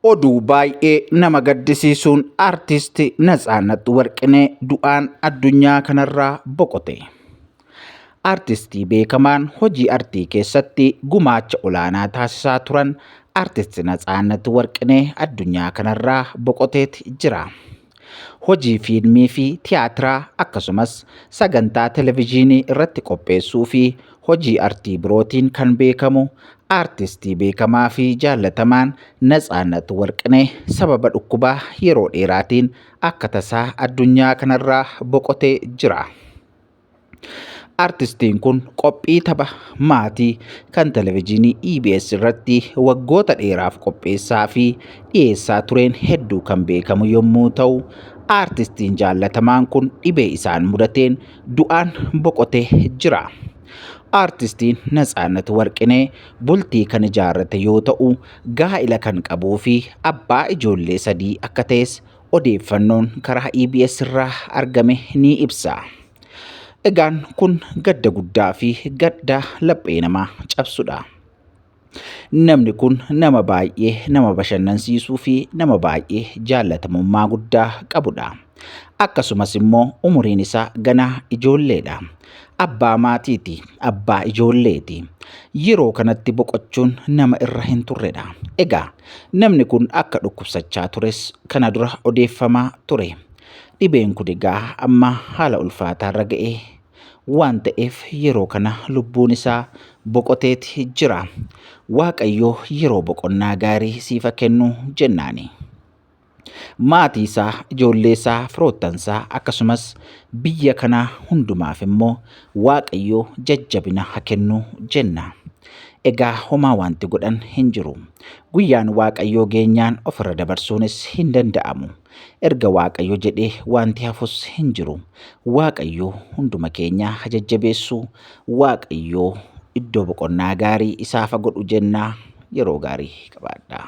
Oduu baay'ee nama gaddisiisuun artisti Natsaannat Warqinee du'aan addunyaa kanarraa boqote. Artistii beekamaan hojii artii keessatti gumaacha olaanaa taasisaa turan artisti Natsaannat Warqinee addunyaa kanarraa boqoteeti jira. Hojii fiilmii fi tiyaatiraa akkasumas sagantaa televijiinii irratti qopheessuu fi hojii artii birootiin kan beekamu aartistii beekamaa fi jaallatamaan Natsaannat Warqinee sababa dhukkubaa yeroo dheeraatiin akka tasaa addunyaa kanarraa boqotee jira. Artistiin kun qophii tapha maatii kan televezyiinii EBS irratti waggoota dheeraaf qopheessaa fi dhiyeessaa tureen hedduu kan beekamu yommuu ta'u, artistiin jaallatamaan kun dhibee isaan mudateen du'aan boqotee jira. Artistiin Natsaannat Warqinee bultii kan ijaarrate yoo ta'u, gaa'ila kan qabuu fi abbaa ijoollee sadii akka ta'es odeeffannoon karaa EBS irraa argame ni ibsa. Egaan kun gadda guddaa fi gadda laphee namaa cabsudha. Namni kun nama baay'ee nama bashannansiisuu fi nama baay'ee jaallatamummaa guddaa qabudha. Akkasumas immoo umuriin isaa ganaa ijoolleedha. Abbaa maatiiti, abbaa ijoolleeti. Yeroo kanatti boqochuun nama irra hin turredha. Egaa namni kun akka dhukkubsachaa tures kana dura odeeffamaa ture. Dhibeen kun egaa amma haala ulfaataarra ga'e waan ta'eef yeroo kana lubbuun isaa boqoteeti jira. Waaqayyo yeroo boqonnaa gaarii siifa kennu jennaani. Maatii isaa, ijoollee isaa, firoottan isaa akkasumas biyya kanaa hundumaaf immoo Waaqayyo jajjabina ha kennu jenna. Egaa homaa wanti godhan hin jiru. Guyyaan Waaqayyoo geenyaan ofirra dabarsuunis hin danda'amu. Erga Waaqayyo jedhee wanti hafus hin jiru. Waaqayyo hunduma keenyaa ha jajjabeessu. Waaqayyo iddoo boqonnaa gaarii isaaf ha godhu jennaa yeroo gaarii qabaadhaa.